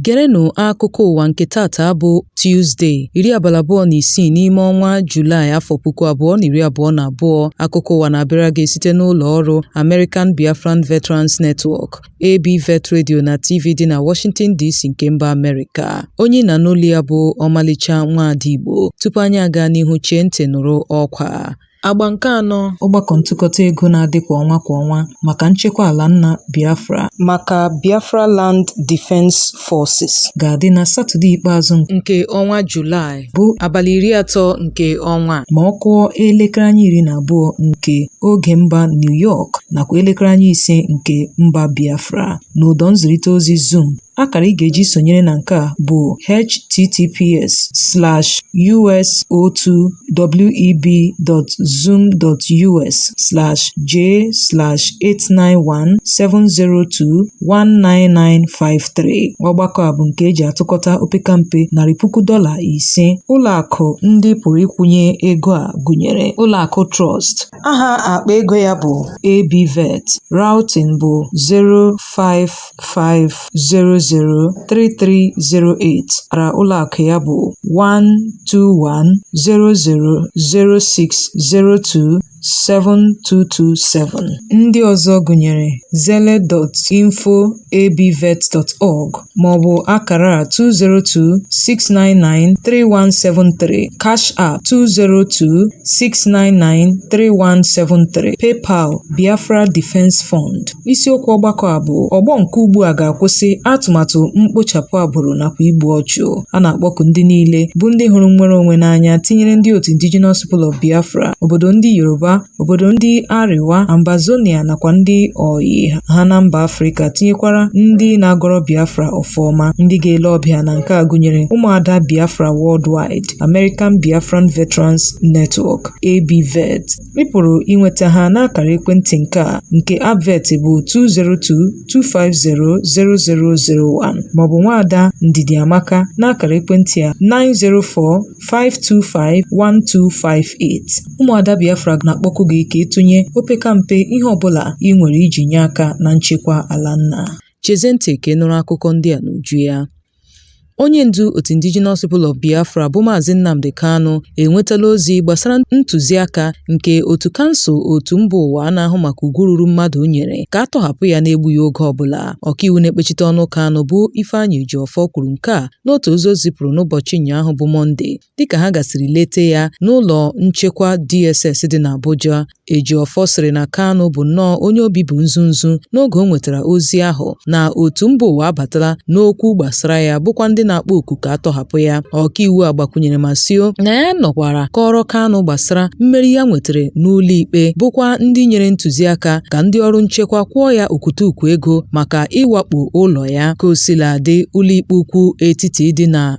Gerenụ akụkọ ụwa nke tata bụ Tuzde, iri abalị abụọ na isii n'ime ọnwa Julaị afọ puku abụọ na iri abụọ na abụọ. Akụkọ ụwa na-abịara gị site n'ụlọ ọrụ American Biafran Veterans Network. ABVET Radio na TV dị na Washington DC nke mba Amerịka onye ị na-anụ olu ya bụ ọmalịcha nwaada Igbo tupu anyị aga n'ihu chee ntị nụrụ ọkwa a Agba nke anọ ọgbakọ ntụkọta ego na-adị kwa ọnwa kwa ọnwa maka nchekwa ala nna Biafra maka Biafra Land Defense Forces ga-adị na Satọde ikpeazụ nke ọnwa Julaị. bụ abalị iri atọ nke ọnwa a ma ọ kụọ elekere anya iri na abụọ nke oge mba New York nakwa elekere anya ise nke mba Biafra n'ụdọ nzirịta ozi Zoom akara ị ga-eji sonyere na nke a bụ https slash us02web.zoom.us slash j slash 891 702 19953 ọgbakọ a bụ nke e ji atụkọta opekampe narị puku dọla ise ụlọakụ ndị pụrụ ịkwụnye ego a gụnyere ụlọakụ Trust aha akpa ego ya bụ ABVET routing bụ 055003308 akara ụlọakụ ya bụ 121000602 7227. Ndị ọzọ gụnyere Zelle info@abvet.org maọbụ akara a 202-699-3173, Cash App 202-699-3173, PayPal Biafra Defense Fund. Isiokwu ọgbakọ a bụ ọgbọ nke ugbu a ga-akwụsị atụmatụ mkpochapụ agbụrụ nakwa igbu ọchụ. a na-akpọku ndị niile bụ ndị hụrụ nnwere onwe n'anya tinyere ndị otu Indigenous People of Biafra obodo ndị Yoruba obodo ndị Arewa Ambazonia nakwa ndị ọyị ha na mba Afrịka tinyekwara ndị na-agọrọ Biafra ọfọ ọma ndị ga-ele ọbịa na nke a gụnyere ụmụada Biafra Worldwide American Biafran Veterans Network ABVET Ị pụrụ inweta ha n'akara ekwentị nke a nke Abvet bụ 202-250-0001 maọbụ nwaada Ndidi Amaka n'akara ekwentị a 904-525-1258. Ụmụada Biafra na-akpọku gị ka ị tụnye opekampe ihe ọbụla ị nwere iji nye aka na nchekwa ala nna. Chezie ntị ka ị nụrụ akụkọ ndị a n'uju ya. Onye ndu otu Indigenous People of Biafra bụ Maazị Nnamdi Kanu enwetala ozi gbasara ntụziaka nke otu kansụl otu mba ụwa a na-ahụ maka ugwu ruru mmadụ nyere ka a tọhapụ ya n'egbughị oge ọbụla. Ọkaiwu na-ekpechite ọnụ Kanu bụ Ifeanyi Ejiofor kwuru nke a n'otu ozi o zipụrụ n'ụbọchị ụnyaahụ bụ Mọnde dịka ha gasịrị lete ya n'ụlọ nchekwa DSS dị n'Abuja. Ejiofor sịrị na Kanu bụ nnọọ onye obi bụ nzu nzu n'oge o nwetara ozi ahụ na otu mba ụwa abatala n'okwu gbasara ya bụkwa ndị na-akpọ oku ka a tọhapụ ya ọkaiwu a gbakwunyere ma sio na ya nọkwara kọọrọ Kanu gbasara mmeri ya nwetara n'ụlọ ikpe bụkwa ndị nyere ntụziaka ka ndị ọrụ nchekwa kwụọ ya okwutukwu ego maka ịwakpo ụlọ ya ka o sila dị ụlọikpe ukwu etiti dị na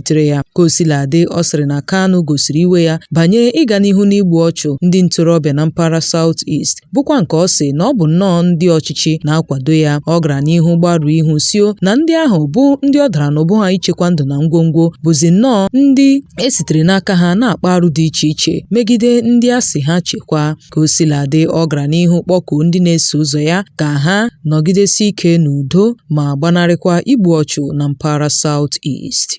tere ya. Ka o sila dị, ọ sịrị na Kanu gosiri iwe ya banye ịga n'ihu n'igbu ọchụ ndị ntorobịa na mpaghara South East, bụkwa nke ọ sị na ọ bụ nnọọ ndị ọchịchị na-akwado ya. Ọ gara n'ihu gbarụọ ihu sio na ndị ahụ bụ ndị ọ dara n'ubu ha ichekwa ndụ na ngwongwo bụzi nnọọ ndị e sitere n'aka ha na-akpa arụ dị iche iche megide ndị a sị ha chekwaa. Ka o sila dị, ọ gara n'ihu kpọkuo ndị na-eso ụzọ ya ka ha nọgidesi ike n'udo ma gbanarịkwa igbu ọchụ na mpaghara South East.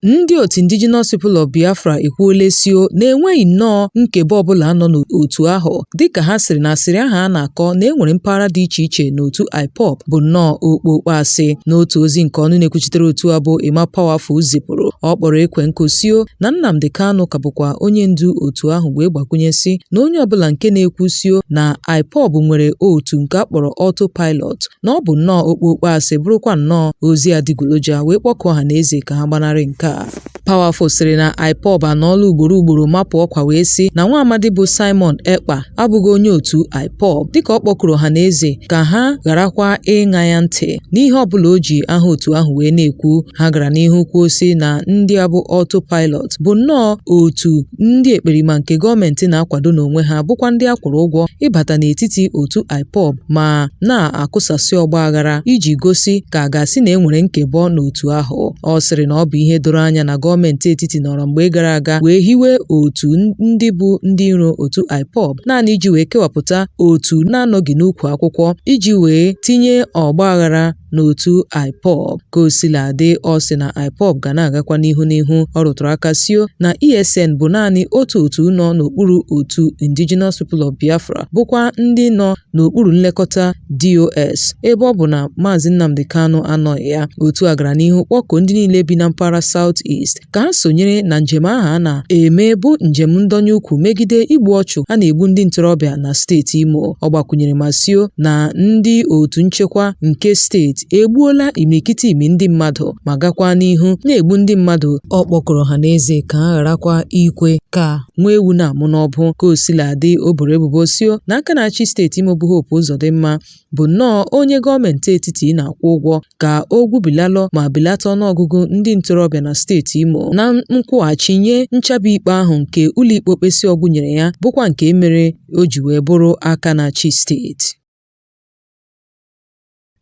Ndị otu Indigenous People of Biafra ekwuola sio na e nweghị nnọọ nkebọ ọbụla nọ n'otu ahụ dịka ha sịrị na asịrị ahụ a na-akọ na e nwere mpaghara dị iche iche n'otu IPOB bụ nnọọ okpokpo asị. N'otu ozi nke ọnụ na-ekwuchitere otu a bụ Emma Powerful zipụrụ, ọ kpọrọ ekwe nkụ sio na Nnamdi Kanu ka bụkwa onye ndu otu ahụ wee gbakwunye sị na onye ọbụla nke na-ekwu sio na IPOB nwere otu nke a kpọrọ Auto Pilot na ọ bụ nnọọ okpokpo asị bụrụkwa nnọọ ozi adịgboroja wee kpọkuo ọha na eze ka ha gbanarị nke a Powerful sịrị na IPOB anọọla ugboro ugboro mapụ ọkwa wee sị na nwa amadi bụ Simon Ekpa abụghị onye otu IPOB dịka ọ kpọkuru ọha na eze ka ha gharakwa ịṅa ya ntị n'ihe ọbụla o ji aha otu ahụ wee na-ekwu ha gara n'ihu kwuo si na ndị a bụ Auto Pilot bụ nnọọ otu ndị ekperima nke gọọmenti na-akwado n'onwe ha bụkwa ndị a kwụrụ ụgwọ ịbata n'etiti otu IPOB ma na-akụsasị ọgba aghara iji gosi ka a ga-asị na e nwere nkebọ n'otu ahụ ọ sịrị na ọ bụ ihe doro anya na gọọmenti etiti nọrọ mgbe gara aga wee hiwe otu ndị bụ ndị iro otu IPOB naanị iji wee kewapụta otu na-anọghị n'ukwu akwụkwọ iji wee tinye ọgba aghara n'otu IPOB ka o sila dị ọ sị na IPOB ga na-agakwa n'ihu n'ihu ọ rụtụrụ aka sio na ESN bụ naanị otu otu nọ n'okpuru otu Indigenous People of Biafra bụkwa ndị nọ n'okpuru nlekọta DOS ebe ọ bụ na Maazị Nnamdi Kanu anọghị ya otu a gara n'ihu kpọkuo ndị niile bi na mpaghara South East ka ha sonyere na njem ahụ a na-eme bụ njem ndọnye ukwu megide igbu ọchụ a na-egbu ndị ntorobịa na steeti Imo ọ gbakwunyere ma sio na ndị otu nchekwa nke steeti egbuola imirikiti imi ndị mmadụ ma gakwa n'ihu na-egbu ndị mmadụ ọ kpọkuru ọhaneze ka ha gharakwa ikwe ka nwa ewu na-amụ n'ọbụ ka o sila dị o boro ebubo sio na aka na-achị steeti Imo bụ Hope Uzodimma bụ nnọọ onye gọọmenti etiti na-akwụ ụgwọ ka o gwubilalụ ma belata ọnụọgụgụ ndị ntorobịa na steeti Imo na nkwụghachi nye nchabi ikpe ahụ nke ụlọikpe okpesi ọgwụ nyere ya bụkwa nke mere o ji wee bụrụ aka na-achị steeti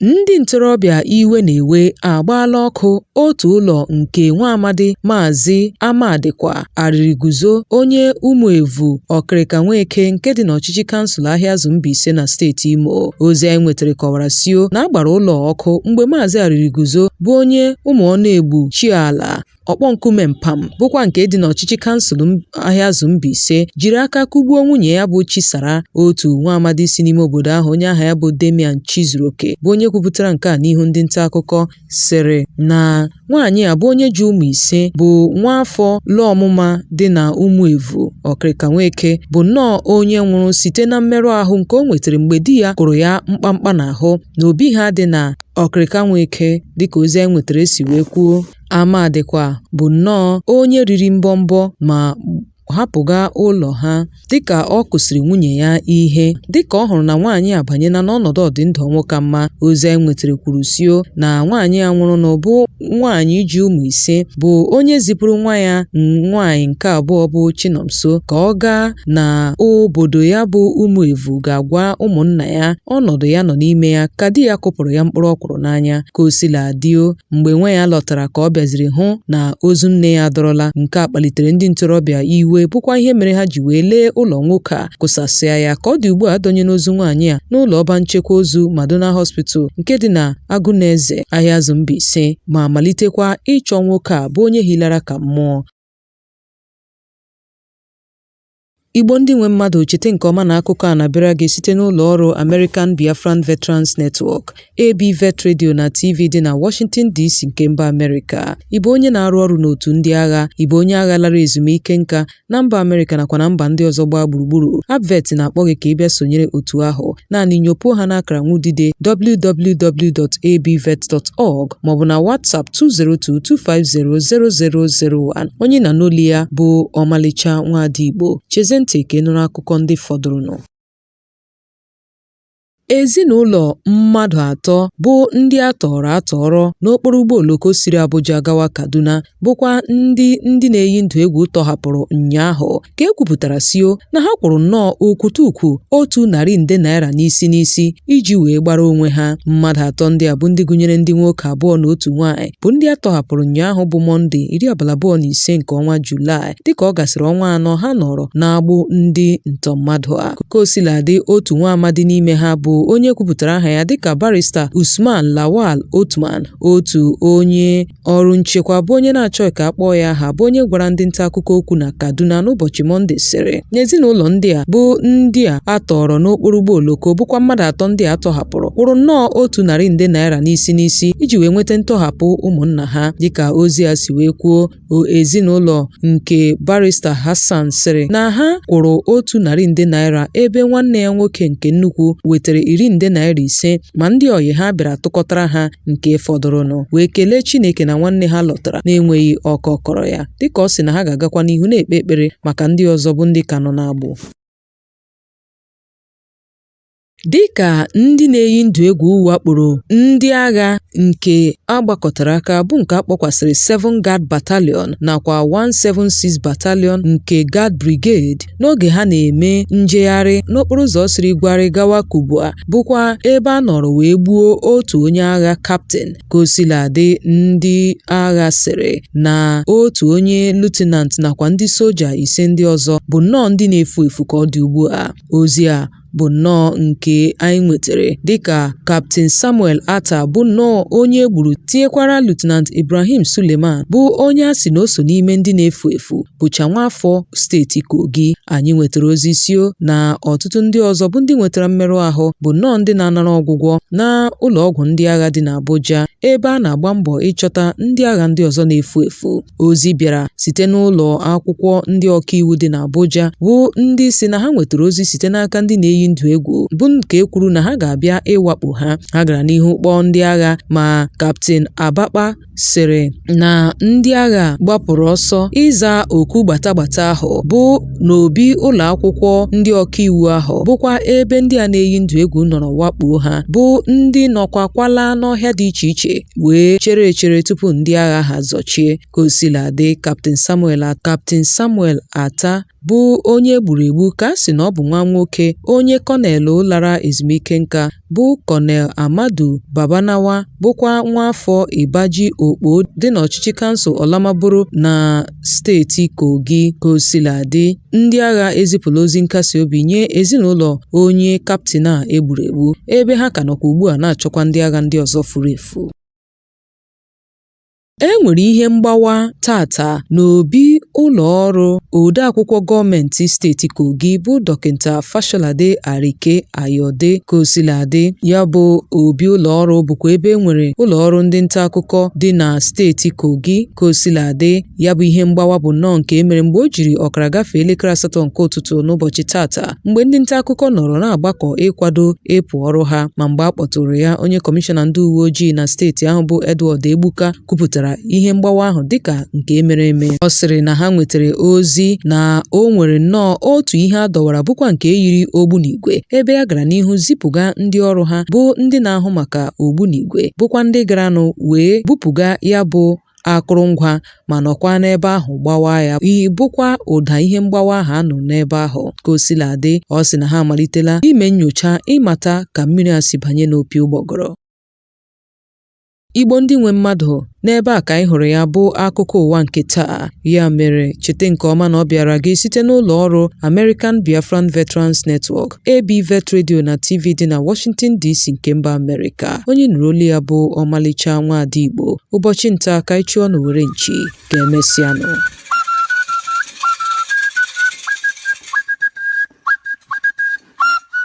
ndị ntorobịa iwe na-ewe agbaala ọkụ otu ụlọ nke nwa amadi Maazị Amadikwa Arịrịguzo, onye Ụmụevu, Ọkịrịka Nweke nke dị n'ọchịchị kansụl Ahịazụ Mbaise na steeti Imo. Ozi anyị nwetara kọwara sio na a gbara ụlọ ọkụ mgbe Maazị Arịrịguzo bụ onye Ụmụọnụegbu Chiala Ọkpọnkume Mpam bụkwa nke dị n'ọchịchị kansụl Ahịazụ Mbaise jiri aka kụgbuo nwunye ya bụ Chisara otu nwa amadi si n'ime obodo ahụ onye aha ya bụ Damian Chizuroke bụ onye kwupụtara nke a n'ihu ndị nta akụkọ sịrị na nwaanyị a bụ onye ji ụmụ ise bụ nwa afọ lụọ ọmụma dị na Ụmụevu, Ọkịrịka Nweke bụ nnọọ onye nwụrụ site na mmerụ ahụ nke o nwetara mgbe di ya kụrụ ya mkpamkpa n'ahụ n'obi ha dị na Ọkịrịka Nweke dịka ozi anyị nwetara si wee kwuo. Amadikwa bụ nnọọ onye riri mbọmbọ ma hapụga ụlọ ha dịka ọ kụsịrị nwunye ya ihe dịka ọ hụrụ na nwaanyị abanyela n'ọnọdụ ọdịndụ ọnwụ ka mma ozi anyị nwetara kwuru sio na nwaanyị a nwụrụnụ bụ nwaanyị ji ụmụ ise bụ onye zipụrụ nwa ya nwaanyị nke abụọ bụ Chinomso ka ọ gaa na obodo ya bụ Ụmụevu gaa gwa ụmụnna ya ọnọdụ ya nọ n'ime ya ka di ya kụpụrụ ya mkpụrụ ọkwụrụ n'anya ka o sila dịo Mgbe nwa ya lọtara ka ọ bịaziri hụ na ozu nne ya adọrọla, nke a kpalitere ndị ntorobịa iwe bụkwa ihe mere ha ji wee lee ụlọ nwoke a kụsasịa ya. Ka ọ dị ugbu a adọnyela ozu nwaanyị a n'ụlọ ọba nchekwa ozu Madonna Hospital nke dị na Agụneze, Ahịazụ Mbaise ma malitekwa ịchọ nwoke a bụ onye hilara ka mmụọ. Igbo ndị nwe mmadụ chete nke ọma na akụkọ a na-abịara gị site n'ụlọ ọrụ American Biafran Veterans Network, ABVET Radio na TV dị na Washington DC nke mba Amerịka. Ị bụ onye na-arụ ọrụ n'otu ndị agha, ị bụ onye agha lara ezumike nka na mba Amerịka nakwa na mba ndị ọzọ gbaa gburugburu, ABVET na-akpọ gị ka ị bịa sonyere otu ahụ. naanị nyopuo ha n'akara nwudide www.abvet.org maọbụ na WhatsApp 202-250-0001 onye na n'oli ya bụ ọmalịcha nwaada Igbo chezie ntị ka ị nụrụ akụkọ ndị fọdụrụnụ Ezinụlọ mmadụ atọ bụ ndị a tọọrọ atọọrọ n'okporo ụgbọ oloko siri Abuja gawa Kaduna bụkwa ndị ndị na-eyi ndụ egwu tọhapụrụ ụnyaahụ ka e kwupụtara sio na ha kwụrụ nnọọ okwute ukwu otu narị nde naira n'isi n'isi iji wee gbara onwe ha mmadụ atọ ndị a bụ ndị gụnyere ndị nwoke abụọ na otu nwaanyị bụ ndị a tọhapụrụ ụnyaahụ bụ mọnde iri abalị abụọ na ise nke ọnwa julaị dịka ọ gasịrị ọnwa anọ ha nọrọ n'agbụ ndị ntọ mmadụ a ka o sila dị otu nwa amadi n'ime ha bụ onye kwupụtara aha ya dịka barista Usman Lawal Otman otu onye Ọrụ nchekwa bụ onye na-achọghị ka a kpọọ ya aha bụ onye gwara ndị nta akụkọ okwu na Kaduna n'ụbọchị Mọnde sịrị na ezinụlọ ndị a bụ ndị a a tọọrọ n'okporo ụgbọ oloko bụkwa mmadụ atọ ndị a tọhapụrụ kwụrụ nnọọ otu narị nde naira n'isi n'isi iji wee nweta ntọhapụ ụmụnna ha dịka ozi a si wee kwuo ezinụlọ nke barista Hassan sịrị na ha kwụrụ otu narị nde naira ebe nwanne ya nwoke nke nnukwu wetara iri nde naira ise ma ndị ọyị ha bịara tụkọtara ha nke fọdụrụnụ wee kelee Chineke na nwanne ha lọtara na-enweghị ọkọ kọrọ ya dịka ọ sị na ha ga-agakwa n'ihu na-ekpe ekpere maka ndị ọzọ bụ ndị ka nọ n'agbụ Dị ka ndị na-eyi ndụ egwu wakporo ndị agha nke a gbakọtara aka bụ nke a kpọkwasịrị Seven Guard Battalion nakwa 176 Battalion nke Guard Brigade n'oge ha na-eme njegharị n'okporo ụzọ siri Bwari gawa Kubwa bụkwa ebe a nọrọ wee gbuo otu onye agha kaptịn ka o sila dị ndị agha sịrị na otu onye Lieutenant nakwa ndị soja ise ndị ọzọ bụ nnọọ ndị na-efu efu ka ọ dị ugbu a ozi a bụ nnọọ nke anyị nwetara dịka Kaptịn Samuel Attah bụ nnọọ onye e gburu tinyekwara Lieutenant Ibrahim Suleiman bụ onye a sị na o so n'ime ndị na-efu efu bụcha nwaafọ steeti Kogi anyị nwetara ozi sio na ọtụtụ ndị ọzọ bụ ndị nwetara mmerụ ahụ bụ nnọọ ndị na-anara ọgwụgwọ n'ụlọọgwụ ndị agha dị n'Abuja ebe a na-agba mbọ ịchọta ndị agha ndị ọzọ na-efu efu Ozi bịara site n'ụlọ akwụkwọ ndị ọkaiwu dị n'Abuja bụ ndị sị na ha nwetara ozi site n'aka ndị na-eyi ndụ egwu bụ nke e kwuru na ha ga-abịa ịwakpo ha. Ha gara n'ihu kpọọ ndị agha ma Kaptịn Abakpa sịrị na ndị agha gbapụrụ ọsọ ịza oku gbata gbata ahụ bụ n'obi ụlọ akwụkwọ ndị ọkaiwu ahụ bụkwa ebe ndị a na-eyi ndụ egwu nọrọ wakpoo ha bụ ndị nọkwakwala n'ọhịa dị iche iche wee chere echere tupu ndị agha ha zọchie ka o sila dị Captain Samuel Atta bụ onye e gburu egbu ka a sị na ọ bụ nwa nwoke onye kọnelụ lara ezumike nka bụ Kọnel Amadu Babanawa bụkwa nwaafọ Ibaji Okpo dị n'ọchịchị kansụl Olamaboro na steeti Kogi. Kosiladị, ndị agha ezipụla ozi nkasi obi nye ezinụlọ onye kaptịn a e gburu egbu, ebe ha ka nọkwa ugbu a na-achọkwa ndị agha ndị ọzọ furu efu. E nwere ihe mgbawa taata n'obi ụlọ ọrụ odeakwụkwọ gọọmentị steeti Kogi bụ Dọkịta Fasholade Arike Ayoade. Kosiladị, ya bụ obi ụlọ ọrụ bụkwa ebe e nwere ụlọ ọrụ ndị nta akụkọ dị na steeti Kogi. Kosiladị, ya bụ ihe mgbawa bụ nnọọ nke e mere mgbe o jiri ọkara gafee elekere asatọ nke ụtụtụ n'ụbọchị taata mgbe ndị nta akụkọ nọrọ na-agbakọ ịkwado ịpụ ọrụ ha ma mgbe a kpọtụrụ ya onye kọmishọna ndị uwe ojii na steeti ahụ bụ Edward Egbuka kwupụtara ihe mgbawa ahụ dịka nke e mere eme ọ sịrị na ha nwetara ozi na o nwere nnọọ otu ihe a dọwara bụkwa nke yiri ogbunigwe ebe a gara n'ihu zipụga ndị ọrụ ha bụ ndị na-ahụ maka ogbunigwe bụkwa ndị garanụ wee bupụga ya bụ akụrụngwa ma nọkwa n'ebe ahụ gbawa ya bụkwa ụda ihe mgbawa ahụ a nụ n'ebe ahụ ka o sila dị ọ sị na ha amalitela ime nyocha ịmata ka mmiri a si banye n'opi ụgbọgọrọ Igbo ndị nwe mmadụ n'ebe a ka anyị hụrụ ya bụ akụkọ ụwa nke taa ya mere cheta nke ọma na ọ bịara gị site n'ụlọ ọrụ American Biafran Veterans Network AB Vet Radio na TV dị na Washington DC nke mba Amerịka onye nụrụ olu ya bụ ọmalịcha nwa ada Igbo ụbọchị nta ka anyị chụọ n'owere nchi ka emesịanụ